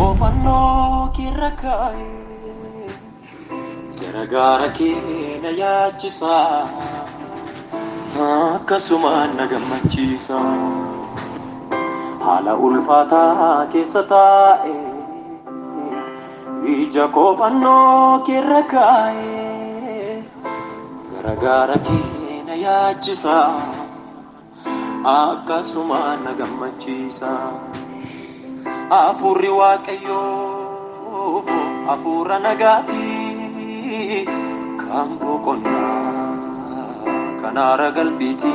Oofannoo keerra kaa'e garagaara kee na yaachisa akkasumaan na gammachiisa haala ulfaataa keessa taa'e ija koofannoo keerra kaa'e. Garagaara kee na yaachisa. Akkasuma na gammachiisa. Hafuurri Waaqayyoo hafuura nagaati. Kan boqonnaa kan aara galfiiti.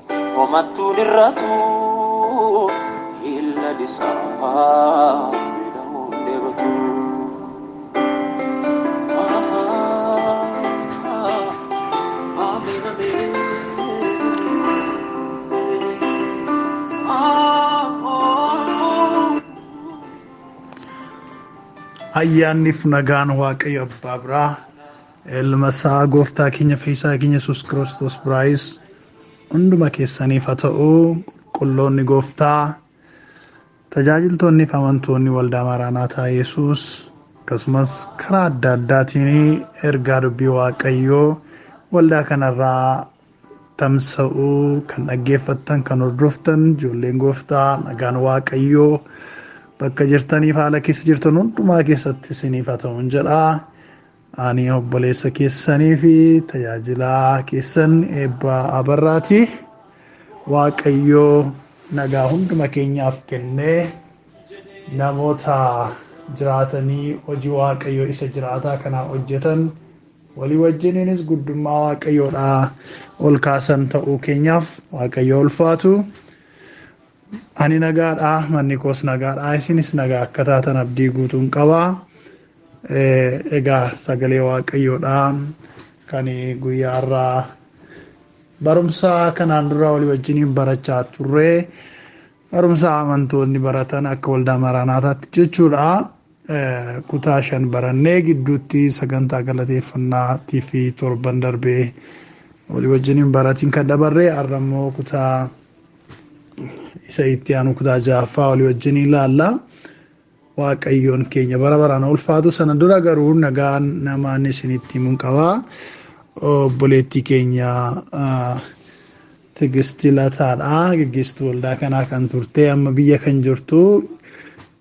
Homattuun irratu illa dhisaa midhamuun debatu. Ameen ameen. Ayyaanniif nagaan Waaqayyo Abbaa biraa ilma isaa gooftaa keenya fayyisaa keenya Yesuus Kiristoos biraayis hunduma keessaniif haa ta'u qulqulloonni gooftaa tajaajiltoonni fi amantoonni waldaa maaraanaataa yesus akkasumas karaa adda addaatiin ergaa dubbii waaqayyoo waldaa kanarraa tamsa'uu kan dhaggeeffattan kan hordoftan ijoolleen gooftaa nagaan waaqayyoo bakka jirtaniif haala keessa jirtan hundumaa keessatti isiniif haa ta'uun jedha Ani obboleessa keessanii fi tajaajilaa keessan eebba abarraati. Waaqayyoo nagaa hunduma keenyaaf kennee namoota jiraatanii hojii waaqayyoo isa jiraataa kanaa hojjetan walii wajjiniinis guddummaa waaqayyoodhaa ol kaasan ta'uu keenyaaf waaqayyoo ulfaatu. Ani nagaadhaa manni koos nagaadhaa isinis nagaa akka taatan abdii guutuun qabaa. Egaa sagalee waaqayyoodha kan guyyaa har'aa barumsa kanaan dura walii wajjiniin barachaa turre barumsa amantoonni baratan akka waldaa maraanaataatti jechuudha. Kutaa shan barannee gidduutti sagantaa galateeffannaatii fi torban darbee walii wajjiniin baratiin kan dabarre har'a immoo kutaa isa itti aanu kutaa ja'affaa walii wajjin ilaalla. Waaqayyoon keenya bara baraan haa ulfaatu sana dura garuu nagaan namaan isinitti himuun qaba. Obboleettii keenya Tigisti Lataadha. Gaggeessituu waldaa kanaa kan turte amma biyya kan jirtu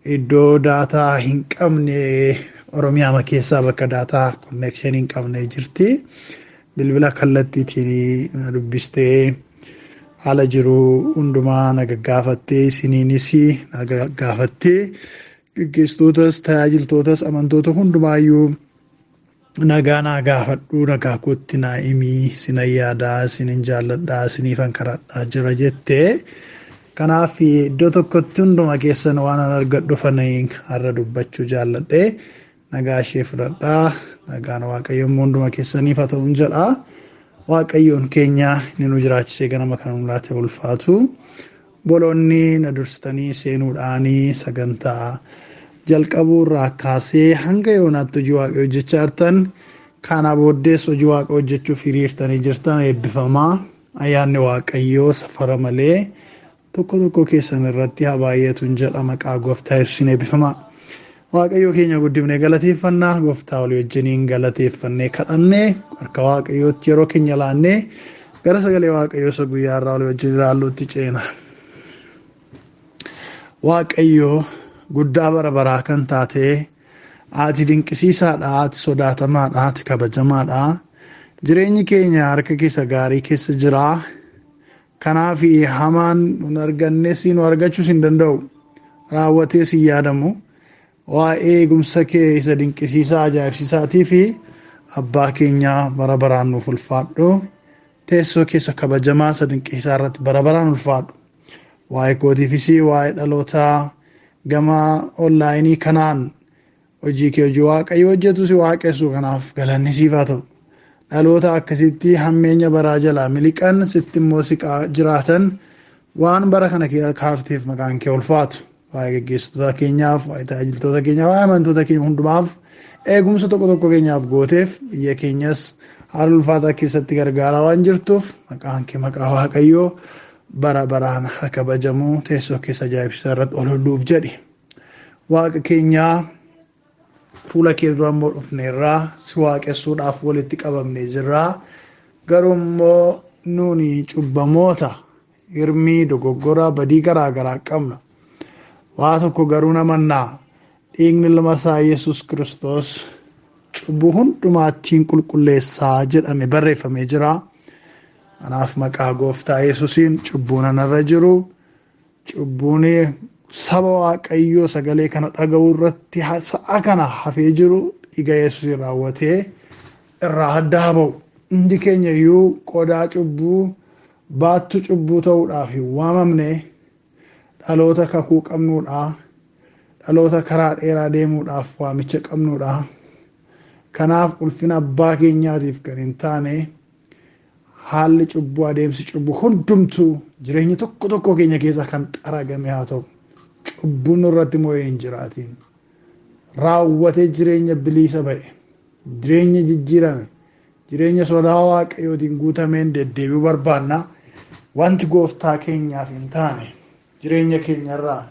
iddoo daataa hin qabne Oromiyaa keessaa bakka daataa konneekshinii hin qabne jirti. Bilbila kallattiitiin na dubbistee haala jiru hundumaa na gaggaafattee isiniinis na gaggaafattee gaggeessitootas tajaajiltootas amantoota hundumaayyuu nagaa naa gaafadhu nagaa kootti naa himii sina yaadaa sinin jaalladhaa siniifan kadhadhaa jira jette kanaaf iddoo tokkotti hunduma keessan waan an argadhufan har'a dubbachuu jaalladhe Nagaa ishee fudhadhaa. Nagaan Waaqayyo immoo hunduma keessaniif haa ta'u jedha. Waaqayyoon keenya inni nu jiraachisee ganama kana nu laate ulfaatu. Boloonni na dursitanii seenuudhaanii sagantaa jalqabuu irraa kaasee hanga yoonaatti hojii Waaqayyo hojjechaa jirtan kana booddees hojii Waaqayyo hojjechuuf hiriirtanii jirtan eebbifamaa. Ayyaanni Waaqayyoo safara malee Tokko tokko keessan irratti haa baay'atun jedha maqaa gooftaa yesuusiin eebbifamaa. Waaqayyoo keenya guddifnee galateeffannaa gooftaa olii wajjiniin galateeffannee kadhannee harka waaqayyootti yeroo keenya laannee gara sagalee waaqayyoo isa guyyaa irraa olii wajjin ilaalluutti ceena. Waaqayyoo guddaa bara baraa kan taate ati dinqisiisaadha ati sodaatamaadha ati kabajamaadha jireenyi keenya harka keessa gaarii keessa jira Kanaaf hamaan nun argannes nu argachuus hin danda'u. Raawwatees hin yaadamu. Waa'ee eegumsa kee isa dinqisiisaa ajaa'ibsiisaatii fi abbaa keenyaa bara baraan nuuf ulfaadhu. Teessoo keessa kabajamaa isa dinqisiisaa irratti bara baraan ulfaadhu. Waa'ee kootiifis waa'ee dhalootaa gama onlaayinii kanaan Hojii kee hojii waaqayyo hojjetu si waaqessu kanaaf galanni siif haa ta'u. Dhaloota akkasitti hammeenya baraa jalaa miliqan sitti immoo siqaa jiraatan waan bara kana kee kaafteef maqaan kee ulfaatu. Waa'ee geggeessitoota keenyaaf, waa'ee tajaajiltoota keenyaaf, waa'ee amantoota keenya hundumaaf eegumsa tokko tokko keenyaaf gooteef biyya keenyas haala ulfaataa keessatti gargaaraa waan jirtuuf maqaan kee maqaa waaqayyoo bara baraan haa kabajamu teessoo keessa ajaa'ibsiisaa irratti ol olluuf jedhi. Waaqa keenyaa fuula kee dura immoo dhufneerraa si waaqessuudhaaf walitti qabamnee jirraa garuu immoo nuuni cubbamoota hirmii dogoggora badii garaa garaa qabna waa tokko garuu namannaa dhiigni ilma isaa yesus kiristoos cubbuu hundumaattiin qulqulleessaa jedhame barreeffamee jira kanaaf maqaa gooftaa yesusiin cubbuun anarra jiru Cubbuun saba waaqayyoo sagalee kana dhaga'uu irratti sa'a kana hafee jiru dhiiga yesuusiin raawwatee irraa adda haa ba'u. Hundi keenya iyyuu qodaa cubbuu baattu cubbuu ta'uudhaaf hin waamamne dhaloota kakuu qabnuudha. Dhaloota karaa dheeraa deemuudhaaf waamicha qabnuudha. Kanaaf ulfina abbaa keenyaatiif kan hin taane Haalli cubbuu adeemsi cubbuu hundumtuu jireenya tokko tokko keenya keessaa kan xaragame haa ta'u. Cubbuun nurratti moo'ee hin jiraatiin. Raawwatee jireenya biliisa ba'e. Jireenya jijjiirame. Jireenya sodaa waaqayyootiin guutameen deddeebi'uu barbaanna. Wanti gooftaa keenyaaf hin taane jireenya keenya irraa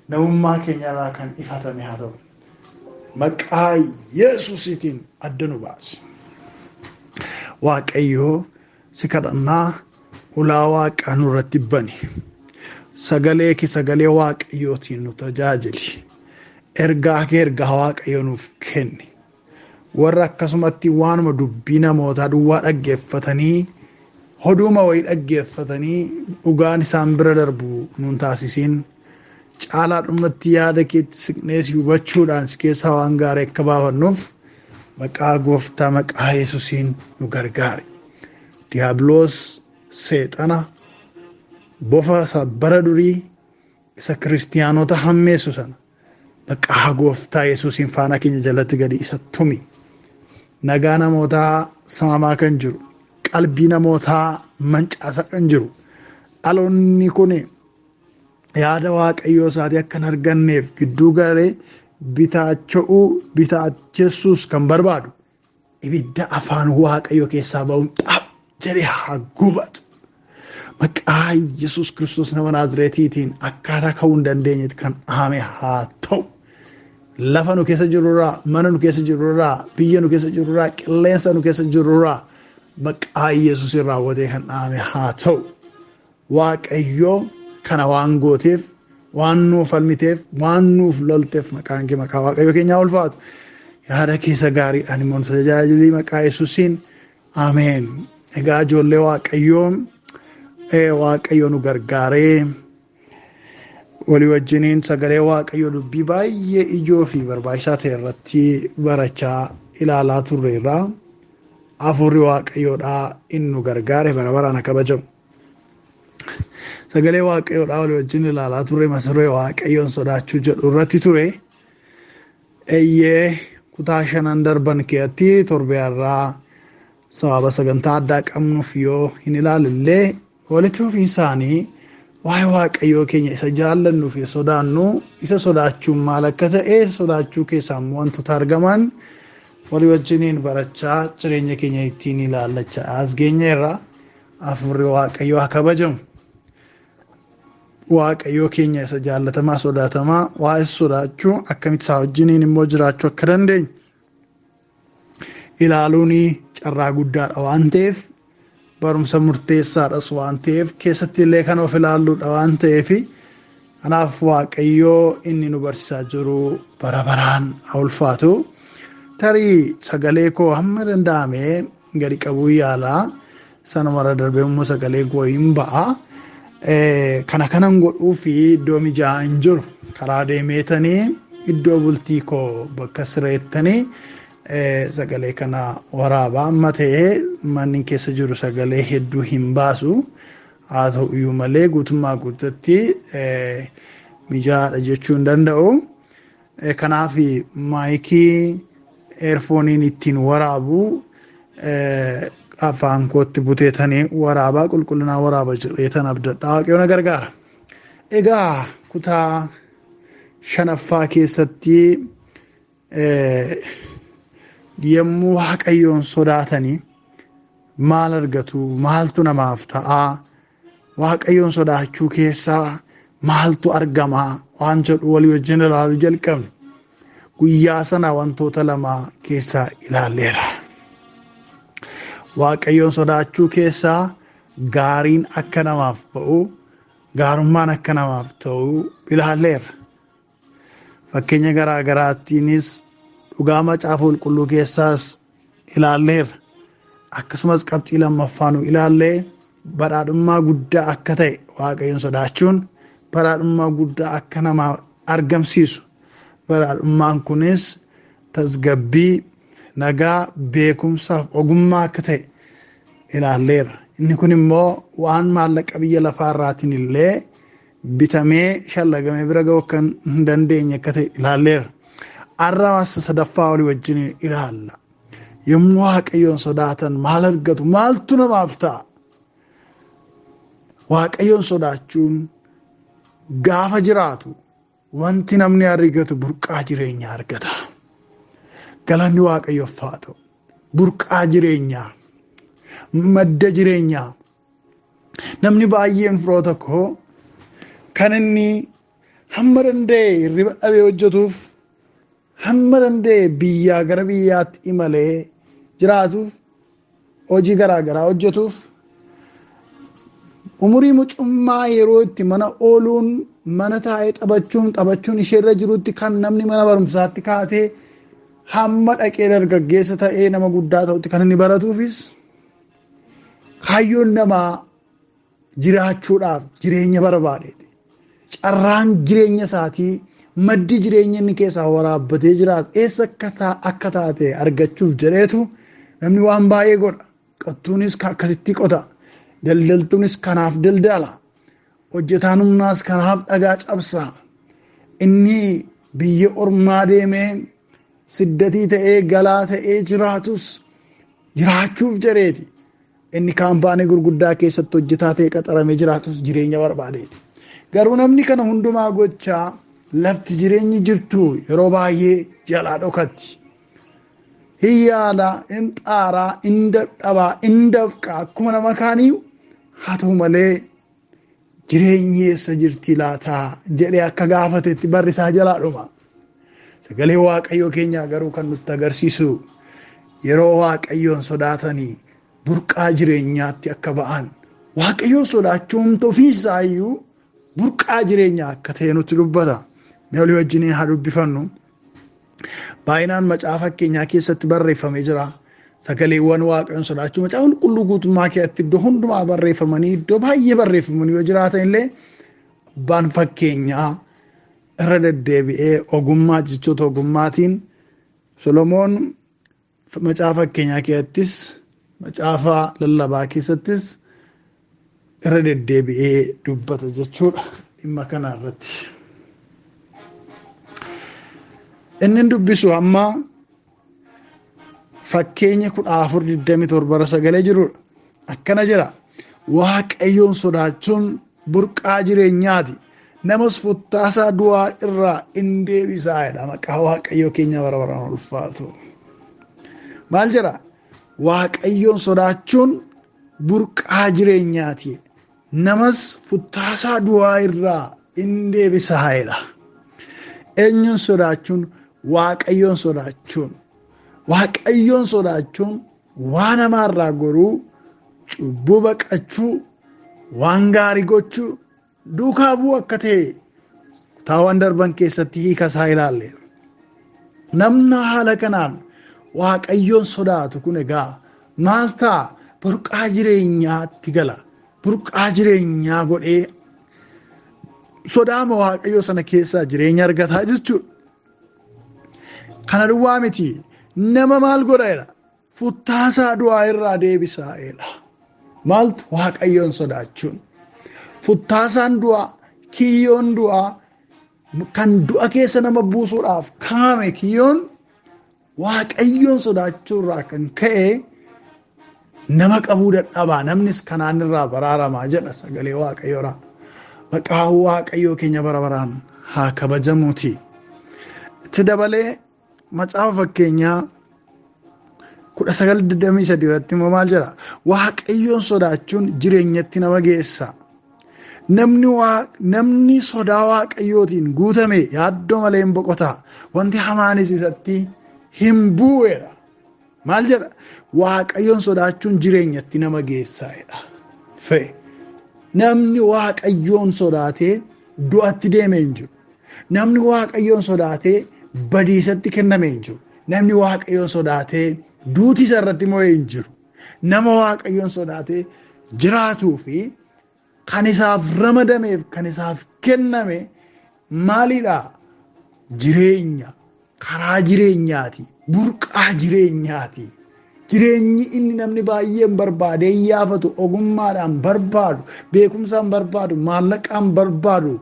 namummaa keenya irraa kan ifatame haa ta'u. Maqaa Yesuusiitiin adda nu baasi. Waaqayyoo si kadhannaa ulaa waaqaa nurratti bani. Sagalee kee sagalee waaqayyootiin nu tajaajili. Ergaa kee ergaa waaqayyoo nuuf kenni. warra akkasumatti waanuma dubbii namootaa duwwaa dhaggeeffatanii hoduuma wayii dhaggeeffatanii dhugaan isaan bira darbu nuun taasisiin caalaa dhumatti yaada keetti siqnee si hubachuudhaan si keessaa waan gaarii akka baafannuuf maqaa gooftaa maqaa yesusiin nu gargaari diiyaabiloos seexana bofa isa bara durii isa kiristiyaanota hammeessu sana Maqaa gooftaa Yesuusiin faana keenya jalatti gadi isa tumi. Nagaa namootaa saamaa kan jiru, qalbii namootaa mancaasaa kan jiru, dhaloonni kun yaada waaqayyoo isaatii akka hin arganneef gidduu garee bitaacha'uu bitaachessuus kan barbaadu ibidda afaan waaqayyo keessaa ba'uun xaap jedhee haa gubatu. Maqaa Yesuus Kiristoos nama Naazireetiitiin akkaataa ka'uu hin dandeenyetti kan dhaame haa ta'u. Lafa nu keessa jirurraa, mana nu keessa jirurraa, biyya nu keessa jirurraa, qilleensa nu keessa jirurraa maqaa Yesuusiin raawwatee kan dhaame haa ta'u. Waaqayyoo kana waan gooteef waan nuu falmiteef waan nuuf lolteef maqaan kee maqaa waaqayyo keenyaa ulfaatu yaada keessa gaariidhaan immoo nu tajaajilii maqaa yesuusiin ameen egaa ijoollee waaqayyoo ee waaqayyo nu gargaaree walii wajjiniin sagalee waaqayyo dubbii baay'ee ijoo fi barbaachisaa ta'e irratti barachaa ilaalaa turreerra hafuurri waaqayyoodhaa inni nu gargaare bara baraan haa kabajamu. Sagalee waaqayyoodhaa walii wajjin ilaalaa turre masaree waaqayyoon sodaachuu jedhu irratti ture. Eeyyee kutaa shanan darban keessatti torbee har'aa sababa sagantaa addaa qabnuuf yoo hin ilaalillee walitti fufiinsaanii waa'ee waaqayyoo keenya isa jaallannuu fi sodaannu isa sodaachuun maal akka ta'e sodaachuu keessaa immoo wantoota argaman walii wajjiniin barachaa jireenya keenya ittiin ilaallachaa as geenyeerra. Hafuurri Waaqayyoo haa kabajamu. Waaqayyoo keenya isa jaallatamaa sodaatamaa waa isa sodaachuu akkamitti isaa wajjiniin immoo jiraachuu akka dandeenyu ilaaluun carraa guddaadha waan ta'eef barumsa murteessaadhas waan ta'eef keessatti illee kan of ilaalluudha waan ta'eef kanaaf waaqayyoo inni nu barsiisaa jiru bara baraan haa ulfaatu tarii sagalee koo hamma danda'ame gadi qabuu yaala sanumarra darbee immoo sagalee koo hin ba'a kana kanan godhuu fi iddoo mijaa'aa hin jiru karaa deemeetanii iddoo bultii koo bakka sireettanii sagalee kana waraabaa amma ta'ee manni keessa jiru sagalee hedduu hin baasu haa ta'u iyyuu malee guutummaa guututti mijaa'aadha jechuu hin danda'u. Kanaaf maayikii eerfooniin ittiin waraabu afaan kootti buteetanii waraabaa qulqullinaa waraaba jedheetan abdadhaa waaqayyoon na gargaara. Egaa kutaa shanaffaa keessatti yommuu waaqayyoon sodaatanii maal argatu maaltu namaaf ta'aa Waaqayyoon sodaachuu keessaa maaltu argama waan jedhu walii wajjin ilaaluu jalqabne. Guyyaa sana wantoota lama keessaa ilaalleera. Waaqayyoon sodaachuu keessaa gaariin akka namaaf ba'u gaarummaan akka namaaf ta'u ilaalleera. Fakkeenya garaa garaattiinis dhugaa macaafa qulqulluu keessaas ilaalleerra. Akkasumas qabxii lammaffaa nu ilaallee badhaadhummaa guddaa akka ta'e waaqayyoon sodaachuun badhaadhummaa guddaa akka namaa argamsiisu. Badhaadhummaan kunis tasgabbii, nagaa, beekumsaaf ogummaa akka ta'e ilaalleerra. Inni kun immoo waan maallaqa biyya lafaa irraatiin illee bitamee shallagame bira ga'uu akka hin dandeenye akka ta'e ilaalleera. Arraas sadaffaa olii wajjin ilaalla. Yommuu Waaqayyoon sodaatan maal argatu? Maaltu namaaf ta'a? Waaqayyoon sodaachuun gaafa jiraatu wanti namni argatu burqaa jireenyaa argata. Galanni Waaqayyoof haa ta'u. Burqaa jireenyaa, madda jireenyaa, Namni baay'een firoota koo kan inni hamma danda'e hirriba dhabee hojjetuuf hamma danda'e biyyaa gara biyyaatti imalee jiraatuuf hojii garaa garaa hojjetuuf umurii mucummaa yeroo itti mana ooluun mana taa'ee taphachuun taphachuun isheerra jirutti kan namni mana barumsaatti kaatee hamma dhaqee dargaggeessa ta'ee nama guddaa ta'utti kan inni baratuufis Kaayyoon namaa jiraachuudhaaf jireenya barbaadeeti. Carraan jireenya isaatii maddi jireenya inni keessaa waraabbatee jiraatu eessa akka ta- akka taate argachuuf jedheetu namni waan baay'ee godha. Qottuunis ka- akkasitti qota. Daldaltuunis kanaaf daldala. Hojjetaan humnaas kanaaf dhagaa cabsa. Inni biyya ormaa deemee Siddatii ta'ee galaa ta'ee jiraatus jiraachuuf jedheeti. Inni kaampaanii gurguddaa keessatti hojjetaa ta'e qaxaramee jiraatus jireenya barbaadeeti. Garuu namni kana hundumaa gochaa lafti jireenyi jirtu yeroo baay'ee jalaa dhokatti. Hin yaala, hin xaaraa, hin dadhabaa, hin dafqaa akkuma nama kaanii haa ta'u malee Jireenyi eessa jirti laataa jedhee akka gaafatetti barri isaa jalaa dhuma. Sagalee Waaqayyoo keenyaa garuu kan nutti agarsiisu yeroo Waaqayyoon sodaatanii burqaa jireenyaatti akka ba'an Waaqayyoon sodaachuun ofiisaa iyyuu burqaa jireenyaa akka ta'e nutti dubbata. Mee olii wajjiniin haa dubbifannu. Baay'inaan macaafa fakkeenyaa keessatti barreeffame jira. Sagaleewwan waaqayyoon sodaachuu macaafa qulqulluu guutummaa keessatti iddoo hundumaa barreeffamanii iddoo baay'ee barreeffamanii yoo jiraatan illee abbaan fakkeenyaa irra deddeebi'ee ogummaa jechoota ogummaatiin Solomoon Macaafa fakkeenyaa keessattis macaafa lallabaa keessattis irra deddeebi'ee dubbata jechuudha dhimma kana irratti. Inni dubbisu amma fakkeenya kudha afur digdami torba irra sagalee jirudha. Akkana jira waaqayyoon sodaachuun burqaa jireenyaati namas futtaasaa du'aa irraa in deebisaa jedha maqaa waaqayyoo keenya bara baraan ulfaatu maal jedha waaqayyoon sodaachuun burqaa jireenyaati namas futtaasaa du'aa irraa in deebisaa jedha eenyuun sodaachuun waaqayyoon sodaachuun waaqayyoon sodaachuun Waan hamaa irraa goruu, cubbuu baqachuu, waan gaarii gochuu, duukaa bu'uu akka ta'e kutaawwan darban keessatti hiika isaa ilaalleera. Namni haala kanaan waaqayyoon sodaatu kun egaa maal ta'a? Burqaa jireenyaatti gala. Burqaa jireenyaa godhee sodaama waaqayyoo sana keessaa jireenya argataa jechuudha. Kana duwwaa miti nama maal godha jedha futtaasaa du'aa irraa deebisaa jedha. Maaltu waaqayyoon sodaachuun futtaasaan du'aa kiyyoon du'aa kan du'a keessa nama buusuudhaaf kaame kiyyoon Waaqayyoon sodaachuu irraa kan ka'e nama qabuu dadhabaa namnis kanaan irraa baraaramaa jedha sagalee waaqayyoodhaa. Maqaa waaqayyoo keenya bara baraan haa kabajamuuti. Itti dabalee macaafa fakkeenyaa kudha sagal digdamii sadii irratti immoo maal jedha? Waaqayyoon sodaachuun jireenyatti nama geessa. Namni, waa, namni sodaa waaqayyootiin guutame yaaddoo malee hin boqota. Wanti hamaanis isatti hin bu'eedha. Maal jedha? Waaqayyoon sodaachuun jireenyatti nama geessaa'edha. Fe namni waaqayyoon sodaatee du'atti deeme hin jiru. Namni waaqayyoon sodaatee badiisatti kenname hin jiru. Namni waaqayyoon sodaatee duuti isa irratti mo'ee hin jiru. Nama waaqayyoon sodaatee jiraatuu fi kan isaaf ramadameef kan isaaf kenname maalidha? Jireenya karaa jireenyaati burqaa jireenyaati. Jireenyi inni namni baay'een barbaadee yaafatu ogummaadhaan barbaadu beekumsaan barbaadu maallaqaan barbaadu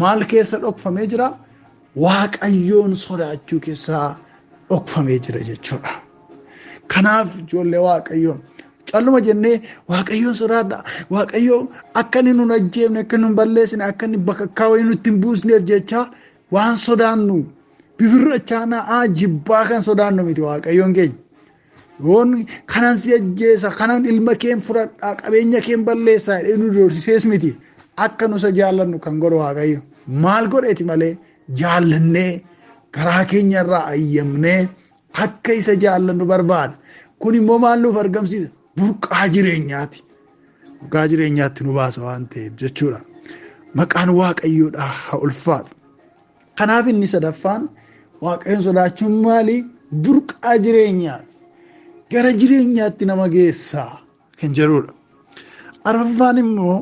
maal keessa dhokfamee jira? Waaqayyoon sodaachuu keessaa dhokfamee jira jechuudha. Kanaaf ijoollee Waaqayyoo calluma jennee Waaqayyoon sodaadha. Waaqayyoo akka inni nun ajjeefne, akka nun balleessine, akka inni bakakkaa wayii nutti hin buusneef jechaa waan sodaannu bibirrachaanaa jibbaa kan sodaannu miti Waaqayyoon keenya. Yoon kanan si ajjeesa kanan ilma keen fudhadhaa qabeenya keen balleessaa jedhee nu doorsisees miti akka nusa jaallannu kan godhu waaqayyo maal godheeti malee jaallannee garaa keenya irraa ayyamnee akka isa jaallannu barbaada kun immoo maal nuuf argamsiisa burqaa jireenyaati burqaa jireenyaatti nu baasa waan ta'eef jechuudha maqaan waaqayyoodhaa haa ulfaatu. Kanaaf inni sadaffaan waaqayyoon sodaachuun maali? Burqaa jireenyaati. Gara jireenyaatti nama geessaa kan jedhudha. Arfaffaan immoo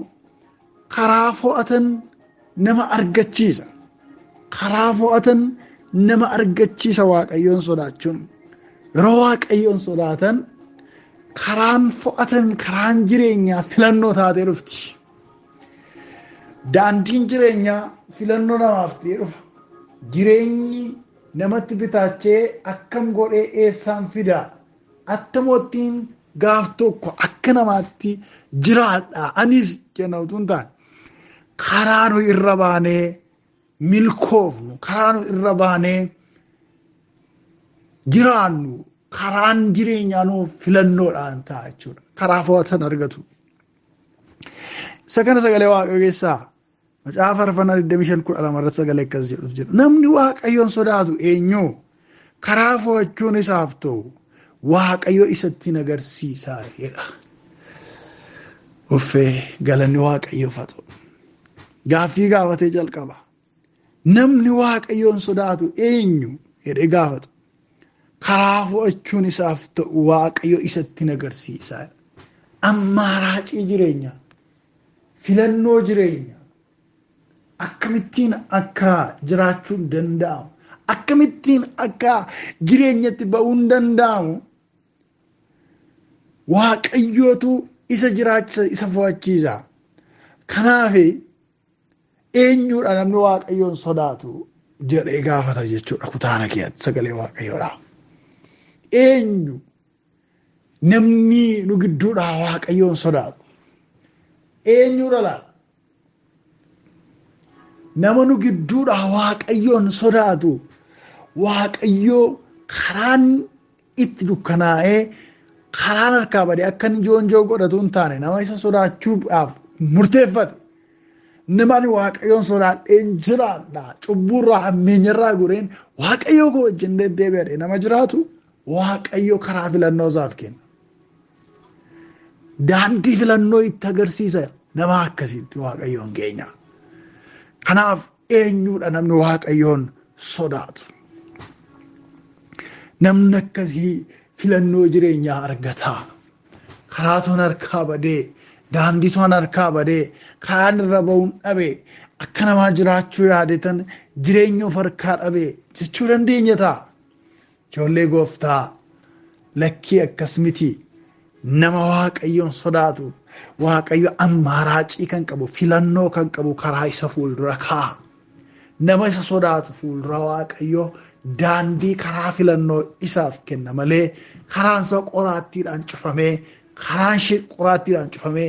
karaa fo'atan nama argachiisa. Karaa fo'atan nama argachiisa waaqayyoon sodaachuun. Yeroo waaqayyoon sodaatan karaan fo'atan karaan jireenyaa filannoo taatee dhufti. Daandiin jireenyaa filannoo namaaf ta'ee dhufa. Jireenyi namatti bitaachee akkam godhee eessaan fidaa? Attamoottiin gaaf tokko akka namaatti jiraadha. Anis jenna utuu hin taane karaa nu irra baanee milkoofnu, karaa nu irra baanee jiraannu, karaan jireenyaa nuuf filannoodhaan ta'a jechuudha. Karaa fo'atan argatu. Isa kana sagalee waaqayyoo keessaa macaafa faarfannaa 25 kudha lama irratti sagalee akkas jedhutu jira. Namni waaqayyoon sodaatu eenyu karaa fo'achuun isaaf ta'u waaqayyo isatti agarsiisaa jedha. Uffee galanni waaqayyoof haa ta'u. Gaaffii gaafatee jalqaba. Namni waaqayyoon sodaatu eenyu jedhee gaafatu. Karaa fo'achuun isaaf ta'u waaqayyo isatti hin agarsiisaa. Ammaaraacii jireenya, filannoo jireenya, akkamittiin akka jiraachuun danda'amu, akkamittiin akka jireenyatti ba'uun danda'amu waaqayyootu isa jiraachisa isa fo'achiisa. Kanaaf Eenyuudha namni waaqayyoon sodaatu jedhee gaafata jechuudha kutaana keessatti sagalee waaqayyoodha. Eenyu namni nu gidduudhaa waaqayyoon sodaatu eenyuudha laata? Nama nu gidduudhaa waaqayyoon sodaatu waaqayyoo karaan itti dukkanaa'ee karaan harkaa bade akka inni joonjoo godhatu hin taane nama isa sodaachuudhaaf murteeffate nama ani waaqayyoon sodaadheen jiraadha cubbuurraa hammeenyarraa goreen waaqayyoo koo wajjin deddeebi'adhe nama jiraatu waaqayyo karaa filannoo isaaf kenna. Daandii filannoo itti agarsiisa nama akkasiitti waaqayyoon keenya. Kanaaf Eenyuudha namni waaqayyoon sodaatu? Namni akkasii filannoo jireenyaa argataa? Karaa toon harkaa badee, daandii toon harkaa badee, karaan irra ba'uun dhabe, akka namaa jiraachuu yaadetan jireenya of harkaa dhabe jechuu dandeenya ta'a. Ijoollee gooftaa lakkii akkas miti nama waaqayyoon sodaatu waaqayyo ammaaraacii kan qabu filannoo kan qabu karaa isa fuuldura kaa'a. Nama isa sodaatu fuuldura waaqayyo daandii karaa filannoo isaaf kenna malee karaan isaa qoraattiidhaan cufamee karaan ishee qoraattiidhaan cufamee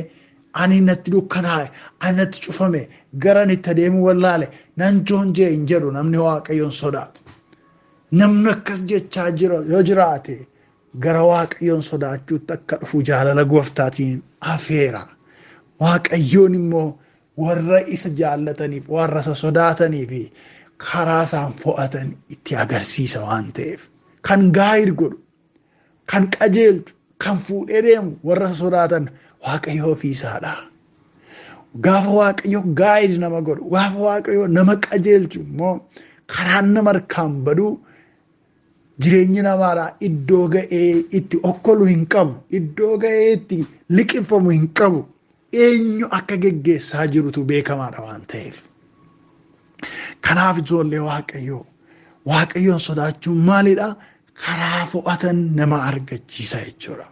ani natti dukkanaa'e ani natti cufame gara itti adeemuu wallaale nan joonjee hin jedhu namni waaqayyoon sodaatu. Namni akkas jechaa jira yoo jiraate gara waaqayyoon sodaachuutti akka dhufu jaalala gooftaatiin afeera. Waaqayyoon immoo warra isa jaallataniif warra isa sodaatanii fi karaa isaan fo'atan itti agarsiisa waan ta'eef kan gaa'id godhu kan qajeelchu kan fuudhee deemu warra sodaatan waaqayyoo ofiisaadha. Gaafa waaqayyo gaa'id nama godhu gaafa waaqayyo nama qajeelchu immoo karaan nama harkaan baduu jireenyi namaadhaa iddoo ga'ee itti okkolu hin qabu iddoo ga'ee itti liqimfamu hin qabu eenyu akka geggeessaa jirutu beekamaadha waan ta'eef. Kanaaf ijoollee waaqayyoo waaqayyoon sodaachuun maalidha? Karaa fo'atan nama argachiisa jechuudha.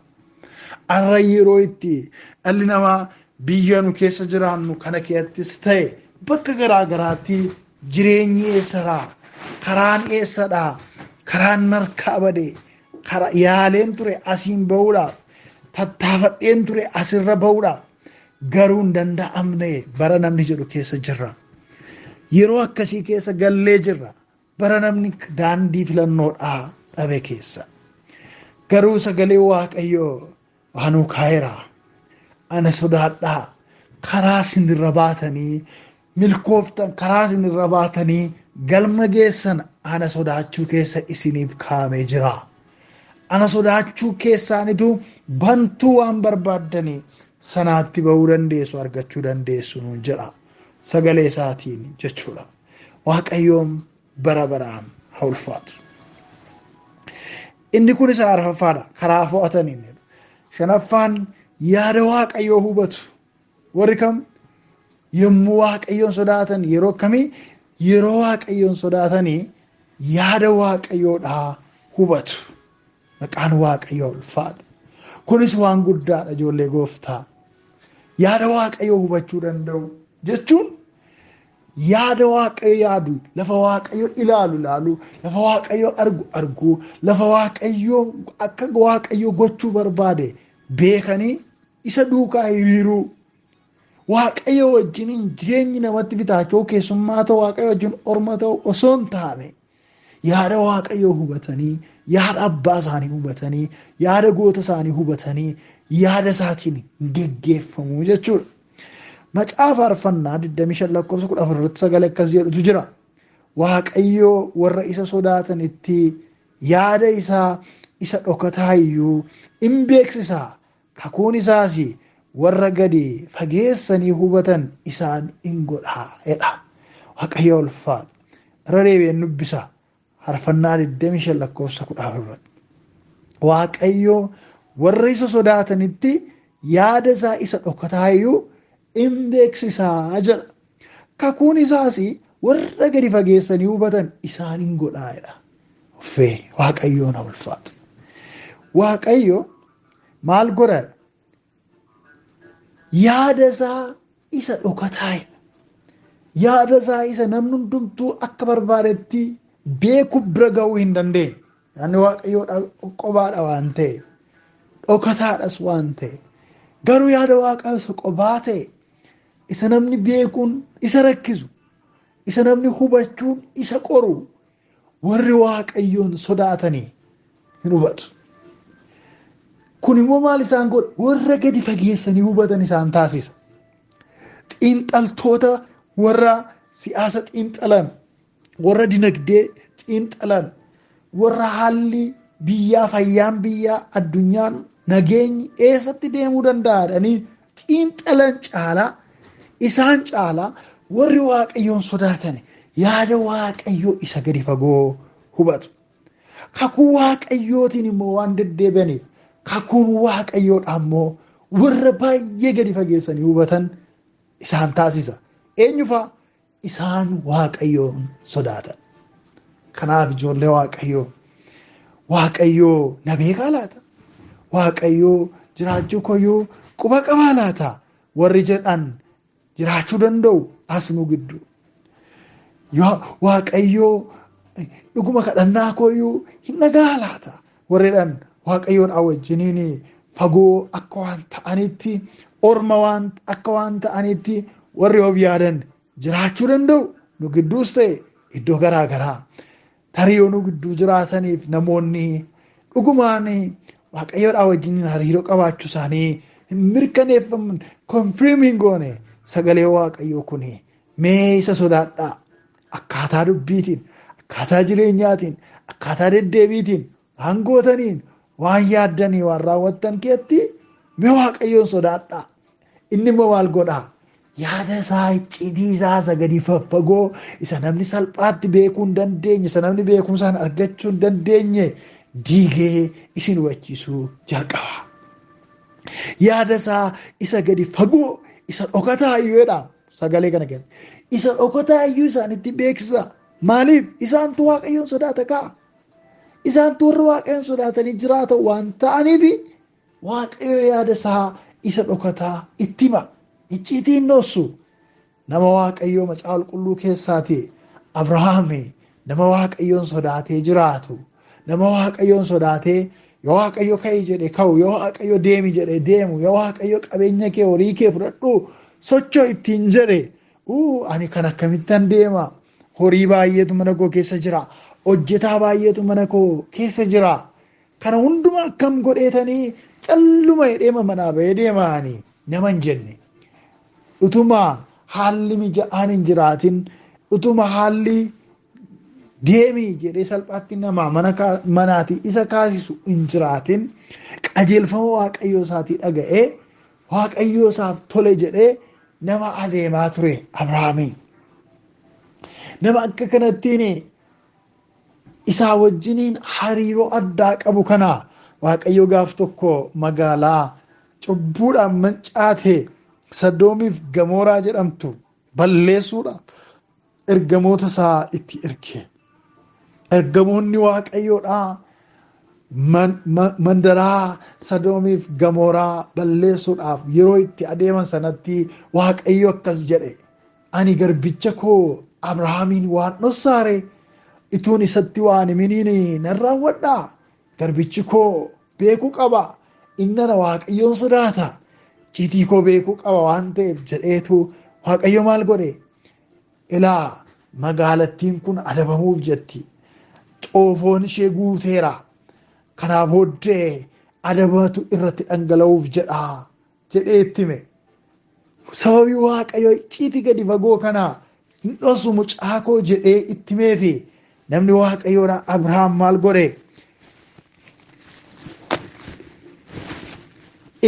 Har'a yeroo itti dhalli namaa biyya nu keessa jiraannu kana keessattis ta'e bakka garaa garaatti jireenyi eessadhaa? Karaan eessadhaa? Karaan narkaa badee? kara yaaleen ture asiin ba'uudhaaf tattaafadheen ture asirra ba'uudhaaf garuu hin danda'amne bara namni jedhu keessa jirra. Yeroo akkasii keessa gallee jirra bara namni daandii filannoodhaa dhabe keessa. Garuu sagalee waaqayyoo waanuu kaa'eera. Ana sodaadhaa karaa sinirra baatanii milkooftan karaa isin irra baatanii galma geessan ana sodaachuu keessa isiniif kaa'amee jira. Ana sodaachuu keessaanitu bantuu waan barbaaddanii sanaatti ba'uu dandeessu argachuu dandeessu nuun jedha sagalee isaatiin jechuudha. Waaqayyoon bara baraan haa ulfaatu. Inni kun isa arfaffaadha karaa fo'ataniin. Shanaffaan yaada waaqayyoo hubatu. Warri kam yommuu waaqayyoon sodaatan yeroo akkamii yeroo waaqayyoon sodaatanii yaada waaqayyoodhaa hubatu. Maqaan waaqayyoo ulfaata. Kunis waan guddaadha ijoollee gooftaa. Yaada waaqayyoo hubachuu danda'u jechuun yaada waaqayyo yaadu lafa waaqayyo ilaalu ilaalu lafa waaqayyo argu argu lafa waaqayyo akka waaqayyo gochuu barbaade beekanii isa duukaa hiriiruu waaqayyo wajjiniin jireenyi namatti bitaachuu keessummaa ta'u waaqayyo wajjin orma ta'u osoo hin taane yaada waaqayyoo hubatanii yaada abbaa isaanii hubatanii yaada goota isaanii hubatanii yaada isaatiin geggeeffamuu jechuudha. Macaafa faarfannaa 25 lakkoofsa 14 irratti sagalee akkas jedhutu jira. Waaqayyoo warra isa sodaatanitti yaada isaa isa dhokataa iyyuu in beeksisa, kakuun isaas warra gadi fageessanii hubatan isaan in godha jedha. Waaqayyo ulfaatu. Irra deebi'een dubbisa. Farfannaa 25 lakkoofsa 14 irratti. Waaqayyo warra isa sodaatanitti yaada isaa isa dhokataa iyyuu in beeksisa jedha. Kakuun isaas warra gadi fageessanii hubatan isaan in godhaa jedha. Uffee Waaqayyoon haa ulfaatu. Waaqayyo maal godha? Yaada isaa isa dhokataa jedha. Yaada isaa isa namni hundumtuu akka barbaadetti beeku bira ga'uu hin dandeenye. Yaadni waaqayyoodha qobaadha waan ta'e dhokataadhas waan ta'e garuu yaada waaqayyoo isa qobaa ta'e isa namni beekuun isa rakkisu isa namni hubachuun isa qoru warri waaqayyoon sodaatanii hin hubatu. Kun immoo maal isaan godha? Warra gadi fageessanii hubatan isaan taasisa. Xiinxaltoota warra siyaasa xiinxalan warra dinagdee xiinxalan warra haalli biyyaa fayyaan biyyaa addunyaan nageenyi eessatti deemuu danda'adhanii xiinxalan caalaa isaan caalaa warri waaqayyoon sodaatan yaada waaqayyoo isa gadi fagoo hubatu. Kakuu waaqayyootiin immoo waan deddeebi'aniif kakuun waaqayyoodhaa immoo warra baay'ee gadi fageessanii hubatan isaan taasisa. Eenyufaa Isaan Waaqayyoon sodaatan. Kanaaf ijoollee Waaqayyoo Waaqayyoo na beekaa laata? Waaqayyoo jiraachuu koyyoo quba qabaa laata? Warri jedhan jiraachuu danda'u as nu gidduu. Waaqayyoo dhuguma kadhannaa koyyuu hin dhagahaa laata? Warreedhaan waaqayyoodhaa wajjiniin fagoo akka waan ta'anitti orma waan akka waan ta'anitti warri of yaadan jiraachuu danda'u nu gidduus ta'e iddoo garaa garaa tarii yoo nu gidduu jiraataniif namoonni dhugumaan waaqayyoodhaa wajjiniin hariiroo qabaachuu isaanii hin mirkaneeffaman konfirmiin goone sagalee waaqayyoo kun mee isa sodaadhaa Akkaataa dubbiitiin, akkaataa jireenyaatiin, akkaataa deddeebiitiin, waan gootaniin, waan yaaddanii, waan raawwattan keetti mee waaqayyoon sodaadhaa. Inni immoo maal godhaa? Yaada isaa icciitii isaa isa gadi faffagoo isa namni salphaatti beekuu hin dandeenye isa namni beekumsaan argachuu hin dandeenye diigee isin hubachiisuu jalqaba. Yaada isaa isa gadi fagoo isa dhokataa iyyuudha. Sagalee kana keessa. Isa dhokataa iyyuu isaanitti beeksisaa. Maaliif? Isaantu waaqayyoon sodaata ka'a. Isaantu warra waaqayyoon sodaatanii jiraatan waan ta'aniif waaqayyo yaada isaa isa dhokataa itti hima. Icciitii hin dhoossu. Nama waaqayyoo macaa qulqulluu keessaati. Abrahaami Nama Waaqayyoon sodaatee jiraatu, nama Waaqayyoon sodaatee yoo Waaqayyo ka'i jedhe ka'u, yoo Waaqayyo deemi jedhe deemu, yoo Waaqayyo qabeenya kee horii kee fudhadhu socho ittiin jedhe ani kan akkamittan deema horii baay'eetu mana koo keessa jira, hojjetaa baay'eetu mana koo keessa jira. Kana hundumaa akkam godheetanii calluma jedheema manaa bahee deemaani nama hin jenne. Utuma haalli mija'aan hin jiraatin utuma haalli deemii jedhee salphaatti namaa mana kaa- manaatii isa kaasisu hin jiraatin qajeelfama waaqayyoo isaatii dhaga'ee waaqayyoo isaaf tole jedhee nama adeemaa ture Abrahaamii. Nama akka kanattiin isaa wajjiniin hariiroo addaa qabu kana waaqayyo gaaf tokko magaalaa cubbuudhaan mancaate sadoomiif gamooraa jedhamtu balleessuudha ergamoota isaa itti erge ergamoonni waaqayyoodhaa mandaraa sadoomiif gamooraa balleessuudhaaf yeroo itti adeeman sanatti waaqayyo akkas jedhe Ani garbicha koo Abrahaamiin waan dhossaare ituun isatti waan himiniin nan raawwadha. Garbichi koo beekuu qaba. Innana waaqayyoon sodaata. Ciitii koo beekuu qaba waan ta'eef jedheetu waaqayyo maal godhe? Ilaa magaalattiin kun adabamuuf jetti. Xoofoon ishee guuteera. Kanaa booddee adabatu irratti dhangala'uuf jedha. jedhee itti hime. Sababii Waaqayyo icciitii gadi fagoo kana hin dhosu mucaa koo jedhee itti himeefi namni Waaqayyoodha Abrahaam maal godhe?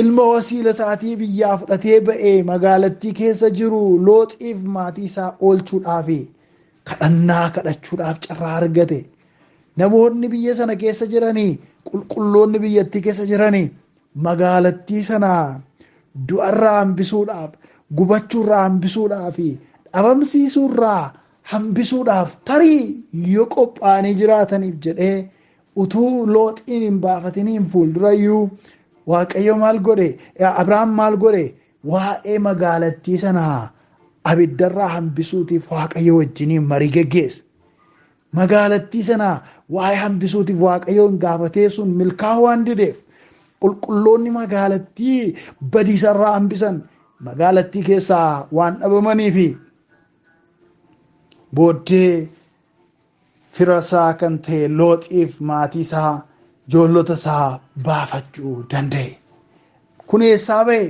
Ilma wasiila isaatii biyyaa fudhatee ba'ee magaalattii keessa jiru looxiif maatii isaa oolchuudhaaf kadhannaa kadhachuudhaaf carraa argate. Namoonni biyya sana keessa jiranii qulqulloonni biyyattii keessa jiranii magaalattii sana du'arraa hambisuudhaaf gubachuurraa hambisuudhaa fi dhabamsiisuurraa hambisuudhaaf tarii yoo qophaa'anii jiraataniif jedhee utuu looxiin hin baafatiniin fuuldurayyuu waaqayyo maal godhe abrahaam maal godhe waa'ee magaalattii sanaa abiddarraa hambisuutiif waaqayyo wajjiniin marii geggeesse Magaalattii sana waa'ee hambisuutiif Waaqayyoon gaafatee sun milkaa'uu waan dideef qulqulloonni magaalattii badiisarraa hambisan magaalattii keessaa waan dhabamanii fi booddee firasaa kan ta'e looxiif maatii isaa ijoollota isaa baafachuu danda'e. Kun eessaa ba'e?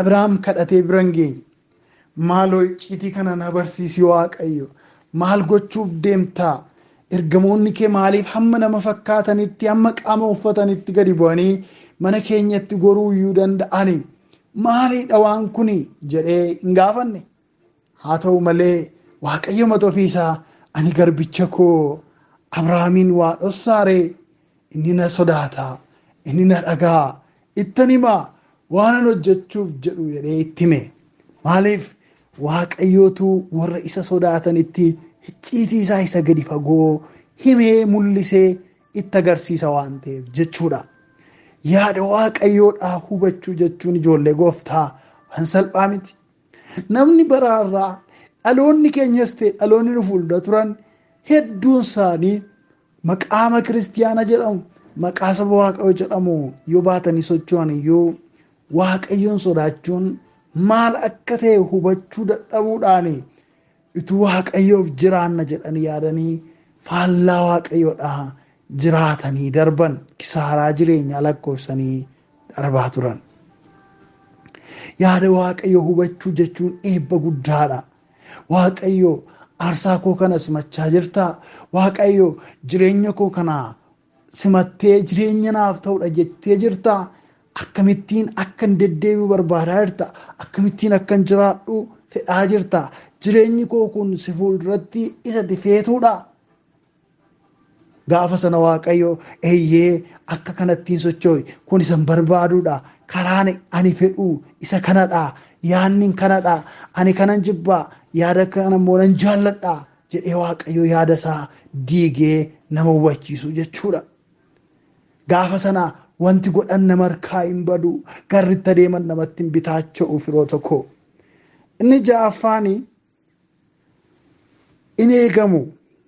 Abiraam kadhatee bira hin geenye. Maaloo icciitii kana na barsiisi Waaqayyo. Maal gochuuf deemta? Ergamoonni kee maaliif hamma nama fakkaatanitti, hamma qaama uffatanitti gadi bu'anii mana keenyatti goruu iyyuu danda'ani? Maaliidha waan kuni? jedhee hin gaafanne. Haa ta'u malee, Waaqayyo mata ofii isaa, Ani garbicha koo Abrahaamiin waa dhossaa ree? Inni na sodaata, inni na dhaga'a, ittan hima, waanan hojjechuuf jedhu jedhee itti hime. Maaliif? Waaqayyootu warra isa sodaatanitti hicciitii isaa isa gadi fagoo himee mul'isee itti agarsiisa waan ta'eef jechuudha. Yaada Waaqayyoodhaa hubachuu jechuun ijoollee gooftaa waan salphaa miti. Namni bara har'aa dhaloonni keenyas ta'e dhaloonni nu fuuldura turan hedduun isaanii maqaama kiristiyaana jedhamu maqaa saba waaqayyo jedhamu yoo baatanii socho'an iyyuu waaqayyoon sodaachuun maal akka ta'e hubachuu dadhabuudhaan Utuu Waaqayyoof jiraanna jedhanii yaadanii faallaa Waaqayyoodhaa jiraatanii darban kisaaraa jireenyaa lakkoofsanii darbaa turan. Yaada Waaqayyoo hubachuu jechuun eebba guddaadha. Waaqayyo aarsaa koo kana simachaa jirtaa? Waaqayyo jireenya koo kana simattee jireenya naaf ta'udha jettee jirta akkamittiin akkan deddeebi'u barbaadaa jirta akkamittiin akkan jiraadhu fedhaa jirta jireenyi koo kun si fuulduratti isa difeetuudha gaafa sana waaqayyo eeyyee akka kanattiin socho'i kun isan barbaaduudha karaan ani fedhu isa kanadha yaanni kanadha ani kanan jibbaa yaada kana immoo nan jaalladha jedhee waaqayyo yaada isaa diigee nama hubachiisu jechuudha. Gaafa sana wanti godhan nama harkaa hin badu garritti adeeman namatti hin bitaacha'u firoo tokko. Inni ja'affaan in eegamu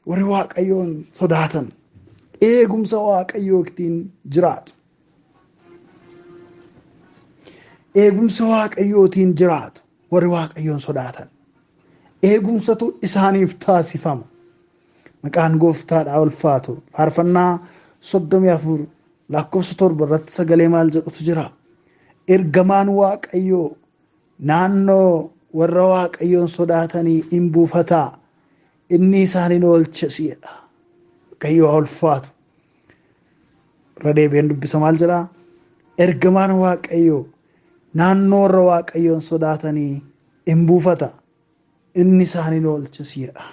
warri waaqayyoon sodaatan eegumsa waaqayyoo ittiin jiraatu. Eegumsa waaqayyootiin jiraatu warri waaqayyoon sodaatan. eegumsatu isaaniif taasifama. Maqaan gooftaadhaa ulfaatu faarfannaa soddomii afur lakkoofsa torba irratti sagalee maal jedhutu jira. Ergamaan Waaqayyoo naannoo warra Waaqayyoon sodaatanii in buufata inni isaan in oolcha jedha. Waaqayyoo ulfaatu. Irra deebi'een dubbisa maal jedhaa? Ergamaan Waaqayyoo naannoo warra Waaqayyoon sodaatanii in buufata, inni isaan in oolchas jedha.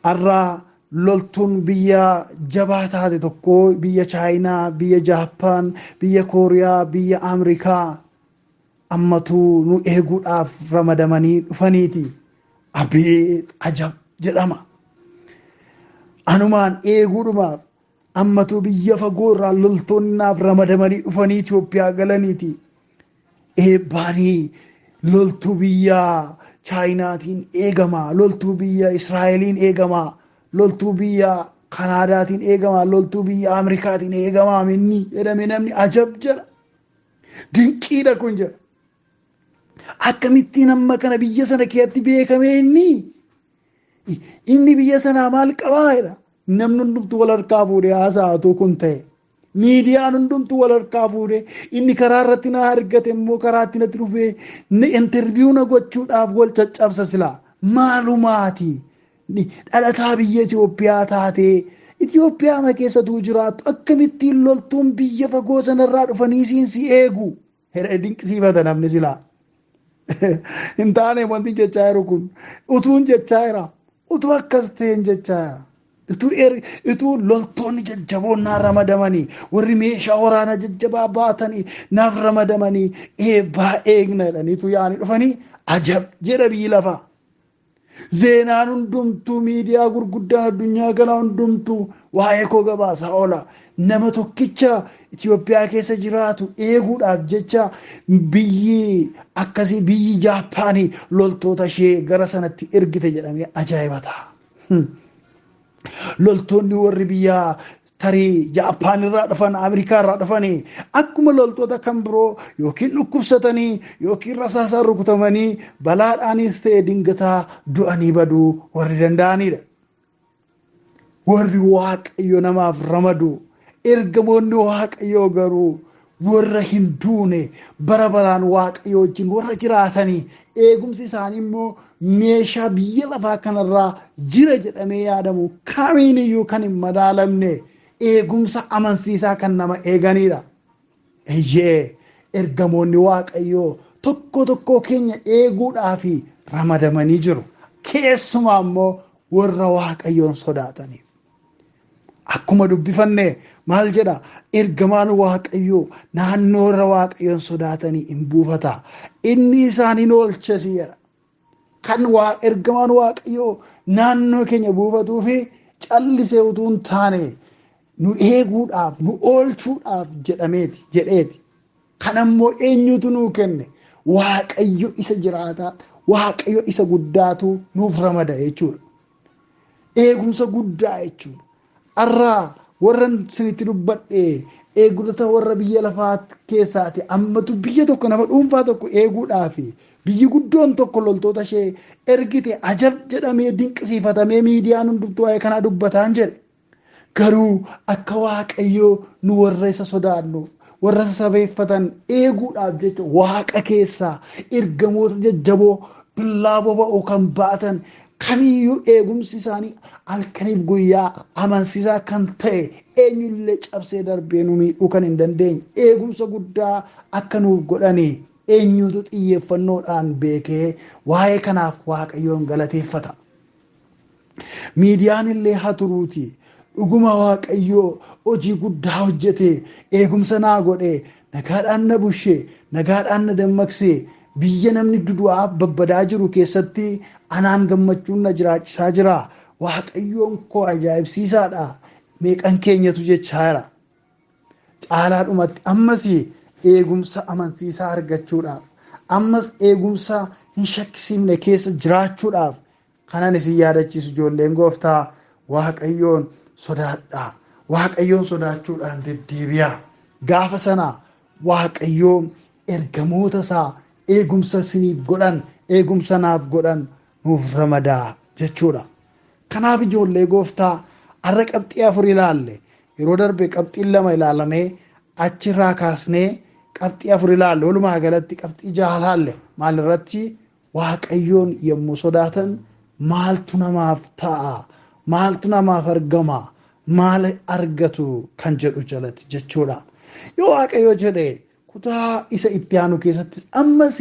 Har'a loltuun biyya jabaa taate tokko biyya Chaayinaa, biyya Jaappaan, biyya Kooriyaa, biyya Ameerikaa ammatu nu eeguudhaaf ramadamanii dhufaniiti. Abeet ajab jedhama. Anumaan eeguudhumaaf Ammatuu biyya fagoo irraa loltoonni naaf ramadamanii dhufanii Itoophiyaa galaniiti. Eebbaanii loltuu biyya Chaayinaatiin eegama, loltuu biyya Israa'eliin eegama, loltuu biyya Kanaadaatiin eegama, loltuu biyya Ameerikaatiin eegama minni jedhame namni ajab jedha. Dinqiidha kun jedha. Akkamittiin amma kana biyya sana keessatti beekamee inni inni biyya sanaa maal qabaa jedha. Namni hundumtu wal harkaa fuudhee haasa'atuu kun ta'e. Miidiyaan hundumtu wal harkaa fuudhee inni karaa irratti na argate immoo karaa itti natti dhufee intarviiyuu na gochuudhaaf wal caccabsa silaa. Maalumaati dhalataa biyya Itoophiyaa taatee Itoophiyaa ma keessatuu jiraattu akkamittiin loltuun biyya fagoo sanarraa dhufanii siin si eegu. Hedhee dinqisiifata namni silaa. Hin taane wanti jechaa jiru kun utuun jechaa jira. Utuu akkas ta'een jechaa jira. Utuu er utuu loltoonni jajjaboon naa ramadamanii warri meeshaa waraanaa jajjabaa baatanii naaf ramadamanii eebbaa eegna jedhanii utuu yaa'anii dhufanii ajab jedha biyyi lafaa. Zeenaan hundumtuu miidiyaa gurguddaan addunyaa kanaa hundumtuu waa'ee koo gabaasaa oola. Nama tokkicha Itoophiyaa keessa jiraatu eeguudhaaf jecha biyyi akkasii biyyi Jaappaanii loltoota ishee gara sanatti ergite jedhamee ajaa'iba ta'a. Loltoonni warri biyyaa tarii Jaappaan irraa dhufan Ameerikaa irraa dhufanii akkuma loltoota kan biroo yookiin dhukkubsatanii yookiin rasaasaan rukutamanii balaadhaanis ta'e dingataa du'anii baduu warri danda'anidha. Warri waaqayyo namaaf ramadu ergamoonni waaqayyoo garuu warra hin duune bara baraan waaqayyo wajjin warra jiraatanii eegumsi isaanii immoo meeshaa biyya lafaa kanarraa jira jedhamee yaadamu kamiin iyyuu kan hin madaalamne eegumsa amansiisaa kan nama eeganidha. Eeyyee ergamoonni waaqayyoo tokko tokkoo keenya eeguudhaaf ramadamanii jiru. Keessumaa immoo warra waaqayyoon sodaataniif. Akkuma dubbifanne maal jedha ergamaan waaqayyoo naannoo irra waaqayyoon sodaatanii in buufata inni isaan hin oolchesi jedha. Kan ergamaan waaqayyoo naannoo keenya buufatuu fi callisee utuu hin taane nu eeguudhaaf nu oolchuudhaaf jedhameeti jedheeti. Kan ammoo eenyutu nuu kenne waaqayyo isa jiraataa waaqayyo isa guddaatu nuuf ramada jechuudha. Eegumsa guddaa jechuudha. Arraa warran sinitti dubbadhe eegdota warra biyya lafaa keessaati ammatu biyya tokko nama dhuunfaa tokko eeguudhaaf biyyi guddoon tokko loltoota ishee ergite ajab jedhamee dinqisiifatamee miidiyaan hundumtuu waa'ee kanaa dubbataan jedhe. Garuu akka Waaqayyoo nu warra isa sodaannuuf, warra isa sabeeffatan eeguudhaaf jecha Waaqa keessaa ergamoota jajjaboo billaa boba'u kan baatan kamiyyuu eegumsi isaanii halkaniif guyyaa amansiisaa kan ta'e eenyullee cabsee darbee nu miidhuu kan hin dandeenye eegumsa guddaa akka nuuf godhani eenyutu xiyyeeffannoodhaan beekee waa'ee kanaaf Waaqayyoon galateeffata. Miidiyaan illee haa turuuti. Dhuguma Waaqayyo hojii guddaa hojjete, eegumsa naa godhe, nagaadhaan na bushe, nagaadhaan na dammaqse, biyya namni dudu'aa babbadaa jiru keessatti anaan gammachuun na jiraachisaa jira. Waaqayyoon koo ajaa'ibsiisaadha. Meeqan keenyatu jechaa jira. Caalaadhumatti ammas eegumsa amansiisaa argachuudhaaf, ammas eegumsa hin shakkisiifne keessa jiraachuudhaaf Kanan isin yaadachiisu ijoolleen gooftaa Waaqayyoon sodaadhaa. Waaqayyoon sodaachuudhaan deddeebi'aa. Gaafa sana Waaqayyoon ergamoota isaa eegumsa isiniif godhan, eegumsa naaf godhan nuuf ramada jechuudha. Kanaaf ijoollee gooftaa har'a qabxii afur ilaalle. Yeroo darbe qabxiin lama ilaalamee achirraa kaasnee qabxii afur ilaalle. Walumaa galatti qabxii jaha ilaalle. Maalirratti? Waaqayyoon yommuu sodaatan maaltu namaaf ta'a? Maaltu namaaf argama? Maal argatu kan jedhu jalatti jechuudha. Yoo Waaqayyo jedhe kutaa isa itti aanu keessattis ammas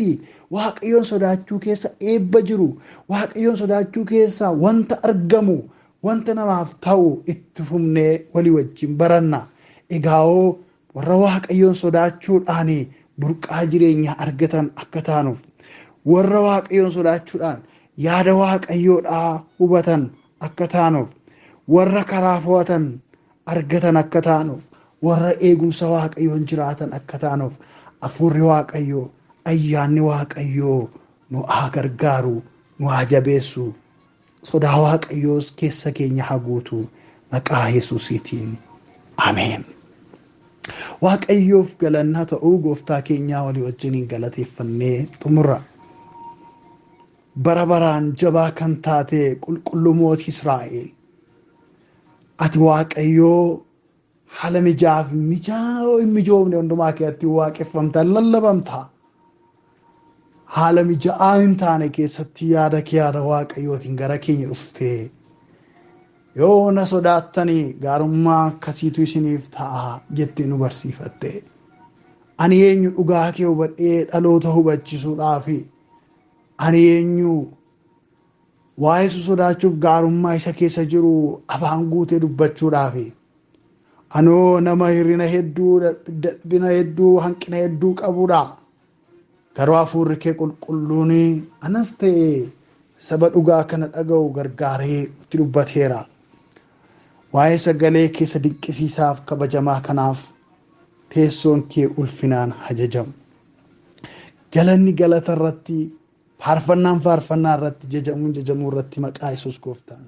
Waaqayyoon sodaachuu keessa eebba jiru, Waaqayyoon sodaachuu keessa wanta argamu, wanta namaaf ta'u itti fufnee walii wajjin baranna. Egaa'oo Warra Waaqayyoon sodaachuudhaan burqaa jireenyaa argatan akka taanuuf, warra Waaqayyoon sodaachuudhaan yaada Waaqayyoodhaa hubatan akka taanuuf, warra karaa fo'atan argatan akka taanuuf, warra eegumsa Waaqayyoon jiraatan akka taanuuf, Hafuurri Waaqayyoo, ayyaanni Waaqayyoo nu haa gargaaru, nu haa jabeessu. Sodaa waaqayyoos keessa keenya haa guutu maqaa yesuusiitiin ameen. Waaqayyoof galannaa ta'uu gooftaa keenyaa walii wajjiniin galateeffannee xumurra. Bara baraan jabaa kan taate qulqulluu mootii Israa'el. Ati waaqayyoo Haala mijaa fi mijaa hin mijoofne hundumaa keessatti waaqeffamta, lallabamta. Haala mija'aa hin taane keessatti yaada kee yaada waaqayyootiin gara keenya dhufte. Yoo na sodaattanii gaarummaa akkasiitu isiniif ta'a jettee nu barsiifatte. Ani eenyu dhugaa kee hubadhee dhaloota hubachisuudhaafi ani eenyu Waa'ee isa sodaachuuf gaarummaa isa keessa jiru afaan guutee dubbachuudhaafi. Anoo nama hir'ina hedduu, dadhabina hedduu, hanqina hedduu qabudha. Garuu hafuurri kee qulqulluun anas ta'e saba dhugaa kana dhaga'u gargaaree nutti dubbateera. Waa'ee sagalee keessa dinqisiisaaf kabajamaa kanaaf teessoon kee ulfinaan hajajamu. Galanni galata irratti Faarfannaan faarfannaa irratti jajamuun jajamuu irratti maqaa Yesuus gooftaan.